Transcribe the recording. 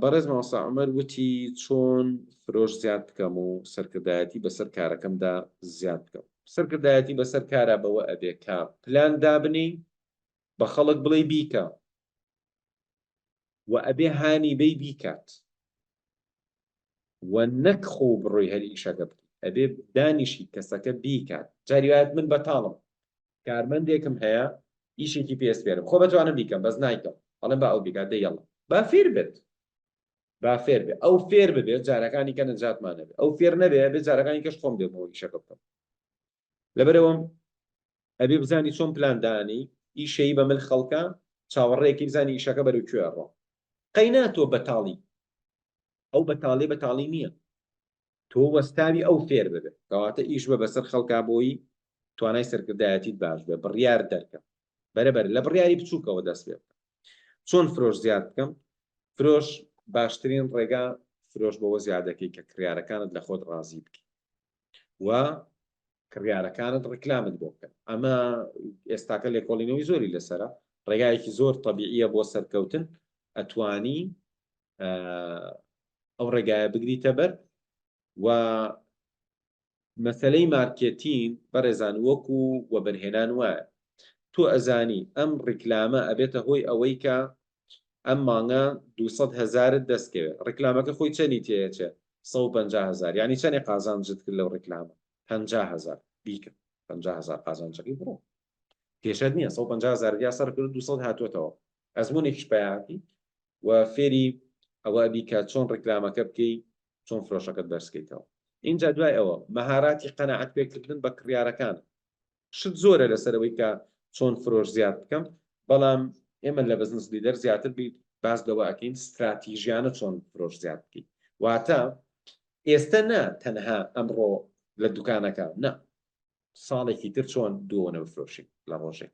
بەڕێز مامۆستا عومەر وتی چۆن فرۆش زیاد بکەم و سەرکردایەتی بەسەر کارەکەمدا زیاد بکەم سەرکردایەتی بەسەر کارا بەوە ئەبێ کە پلان دابنی بە خەڵک بڵێ بیکە و ئەبێ هانی بەی بیکات و نەک خۆو بڕۆی هەر ئیشەکە بکەی ئەبێ دانیشی کەسەکە بیکات جاری وایەت من بەتاڵم کارمەندێکم هەیە ئیشێکی پێ سپێرم خۆ بەتوانم بیکەم بەس نایکەم ئەڵێم با ئەو بیکات دەی یەڵا با فێر بێت با فێر بێ ئەو فێر ببێت جارەکانی کە نەجاتمانەبێ ئەو فێر نەبێ بێ جارەکانی کەش خۆم دێمەوە ئیشەکە بکەم لەبەرئەوەم ئەبێ بزانی چۆن پلان دانێی ئیشەی بە مل خەڵکە چاوەڕێکی بزانی ئیشەکە بەرەو کوێ ئەڕۆ قەینا تۆ بەتاڵی ئەو بەتاڵێ بەتاڵی نییە تۆ وەستاوی ئەو فێر ببێت کەواتە ئیش بە بەسەر خەڵکا بۆی توانای سەرکردایەتیت باش بێ بڕیار دەرکە بەرەبەر لە بڕیاری بچووکەوە دەست پێ بکە چۆن فرۆش زیاد بکەم فرۆش باشترین ڕێگا فرۆش بەوە زیادەکەی کە کڕارەکانت لە خۆت ڕازی بکە و کڕیارەکانت ڕکلامت بۆ بکەن ئەمە ئێستاکە لێکۆڵینەوەی زۆری لەسرە ڕێگایەکی زۆر طببیعە بۆ سەرکەوتن ئەتوانی ئەو ڕێگایە بگریتە بەر و مەسلەی مارکێتین بەڕێزان وەکو وەبەرهێنان وایە تۆ ئەزانی ئەم ڕیکلامە ئەبێتە هۆی ئەوەی کە ئەم مانگە دوو سەد هەزارت دەست کەوێ ڕیکلامەکە خۆی چەنی تێ ئەچێ سەد و پەنجا هەزار یانی چەنێ قازانجت کرد لەو ڕیکلامە پەنجا هەزار بیکە پەنجا هەزار قازانجەکەی بڕۆ کێشەت نییە سەد و پەنجا هەزارت یا سەر کرد دوو سەد هاتووەتەوە ئەزمونێکیش پیاکەی و فێری ئەوە بی کە چۆن ڕیکلامەکە بکەی چۆن فرۆشەکەت بەرزکەیتەوە ئینجا دوای ئەوە مەهاراتی قەناعەت پێکردن بە کڕیارەکان شت زۆرە لەسەر ئەوەی کە چۆن فرۆش زیاد بکەم بەڵام ئێمە لە بزنس لیدەر زیاتر بیت باس لەوە ئەکەین ستراتیژیانە چۆن فرۆش زیاد بکەیت واتە ئێستا نا تەنها ئەمڕۆ لە دوکانەکە نا ساڵێکی تر چۆن دوۆنە بفرۆشین لە ڕۆژێک